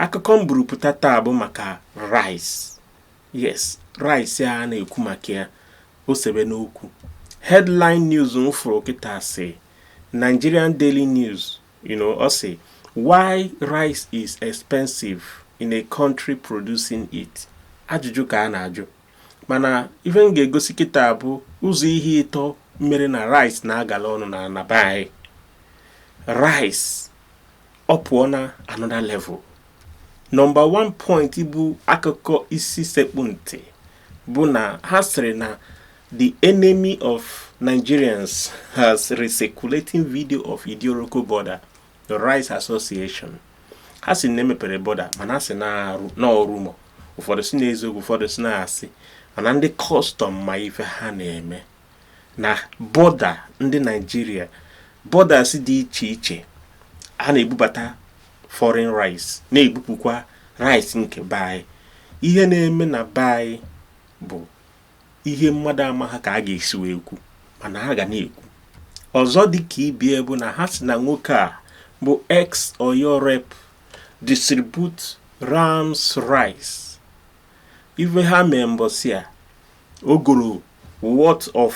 akụkọ m buru pụta taa bụ maka rice yes rice a na-ekwu maka ya o sebena okwu headline news m fụrụ kịta si Nigerian Daily News you know ọ sị why rice is expensive in a country producing it ajụjụ ka a na-ajụ mana ife m ga-egosi kịta bụ ụzọ ihe ịtọ mere na rice na-agala ọnụ na ana be anyị rice ọ pụọ na another level nọmba 1 point bụ akụkọ isi sekpu ntị bụ na ha sịrị na the enemy of Nigerians has recirculating video of Idiroko border the Rice Association ha si na e mepere boda mana ha si na ọ rumour ụfọdụ si na eziokwu ụfọdụ si na asị mana ndị kọstọm ma ife ha na-eme na bọda ndị naijiria bọdas dị iche iche a na-ebubata foreign rice na-ebupụkwa rice nke be anyị ihe na-eme na be anyị bụ ihe mmadụ amaha ka a ga-esi wee kwu mana ha ga na-ekwu ọzọ dị ka ibie bụ na ha si na nwoke a bụ ex oyo rep distribute rams rice ife ha mee mbọsị a o goro worth of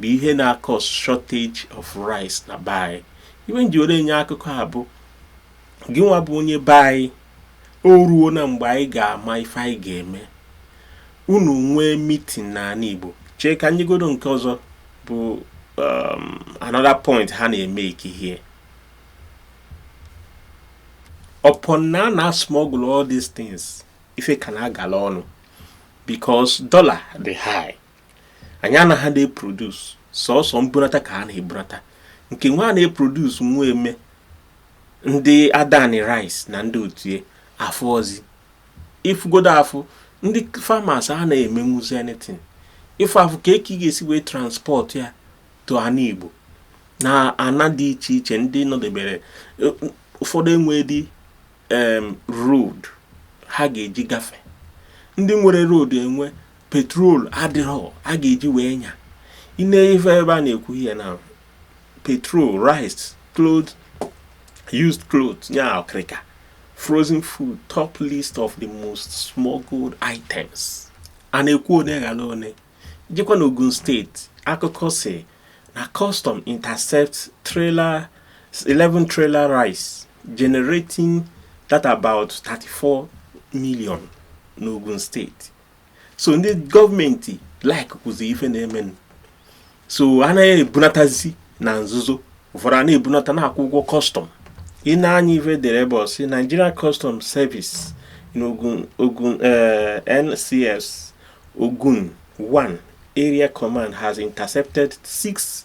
bụ ihe na-akọs shortage of rice na be anyị ife m ji were enye akụkọ a bụ gị nwa bụ onye be anyị o ruo na mgbe anyị ga-ama ife anyị ga-eme unu nwee mitin n'ana Igbo chee ka nyegodo nke ọzọ bụ um, another point ha na-emeki here upon na a na-asmọgụl all these things ife ka na-agala ọnụ because dollar dị high anyị anaghị na-eprodus sọsọ mbunata ka a na-ebunata nke nwa a na-eprodus nwa eme ndị adani rice na ndị otu ya afụọzi ị fụgodo afụ ndị farmers a na-emenwuzi anything ị fụ afụ ka eke ị ga-esi wee transport ya to ana igbo na ana dị iche iche ndị nọdebere e, ụfọdụ enwedị road ha ga-eji gafee ndị nwere road enwe petrol adịrọ a ga-eji wee nya i nee ife ebe a na-ekwu here na petrol rice clothes used clothes nya ọkịrịka frozen food top list of the most smuggled items a na-ekwu one ghara one jekwa na Ogun steeti akụkọ si na custom intercept 11 trailer rice generating that about 34 million n'Ogun steeti so ndị gọọmenti like kwụzi ife na-emenụ so a na-ebunatazi na nzuzo ụfọdụ a na-ebunata na-akwụ ụgwọ kọstọm i nee anya ife e dere ebe ọ sị Nigeria Custom Service in Ogun eh, NCS Ogun 1 Area Command has intercepted six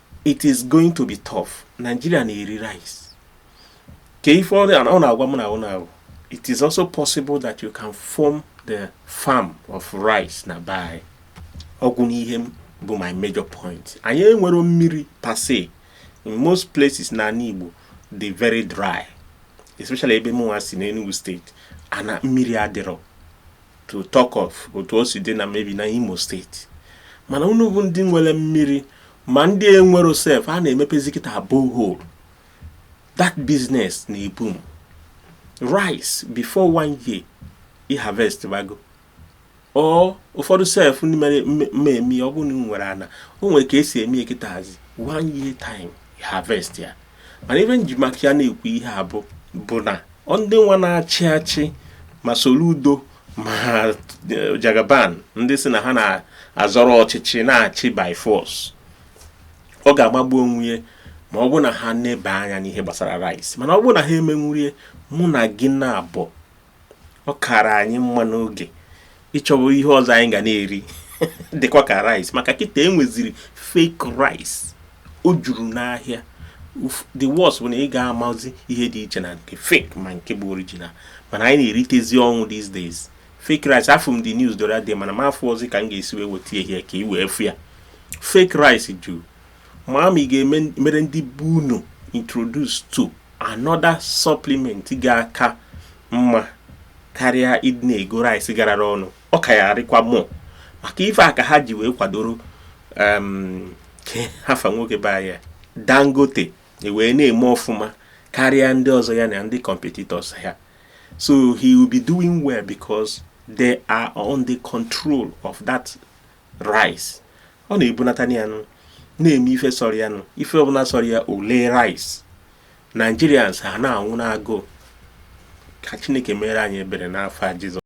it is going to be tough Nigeria na-eri rice ka ife ọ na-agwa m na ọ na-ahụ it is also possible that you can form the farm of rice na be anyị ọ bụ n'ihe m bụ my major point anyị enwero mmiri per se in most places na anị Igbo dị very dry especially ebe mụnwa si n'Enugu State ana mmiri adịrọ to talk of otu o si dị na maybe na Imo State mana unu bụ ndị nwere mmiri ma ndị enwero sef a na-emepezi kịta borehole that business na-eboom rice before one year i harvest bago or ụfọdụ sef ndị mere mmemme ọ bụ na nwere ana o nwere ka esi eme ya kịtazi one year time harvest ya mana ife m ji maka ya na-ekwu ihe a bụ bụ na ndị nwa na-achị achị ma Soludo ma eh, Jagaban ndị sị na ha na-azọrọ ọchịchị na-achị by force ọ ga-amagbu onwe ya ma ọ bụ na ha neba anya n'ihe gbasara rice mana ọ bụ na ha emenwurọ ya mụ na gị naabọ ọ kara anyị mma n'oge ịchọba ihe ọzọ anyị ga na-eri dịkwa ka rice maka kịta enweziri fake rice o juru n'ahịa the worst bụ na ị ga-amazi ihe dị iche na nke fake ma nke bụ original mana anyị na-eritezi ọnwụ these days fake rice afụ m the news the other day mana m afụrọzi ka m ga-esi wee weta ihe ka ị wee fụ ya fake rice juru ma ma ị ga-emere ndị be unu introduce to another supplement ga-aka mma karịa ịdị na-ego rice garara ọnụ ọ ka ya arịkwa more maka ife a ka ha ji wee kwadoro um, kee afa nwoke be anyị Dangote e wee na-eme ọfụma karịa ndị ọzọ ya na ndị competitors ha so he will be doing well because they are on the control of that rice ọ na-ebunata ya nụ na-eme ife sọrọ ya nụ ife ọbụla sọrọ ya o lee rice Nigerians a na-anwụ n'agụụ ka Chineke mere anyị ebere n'afa Jizọs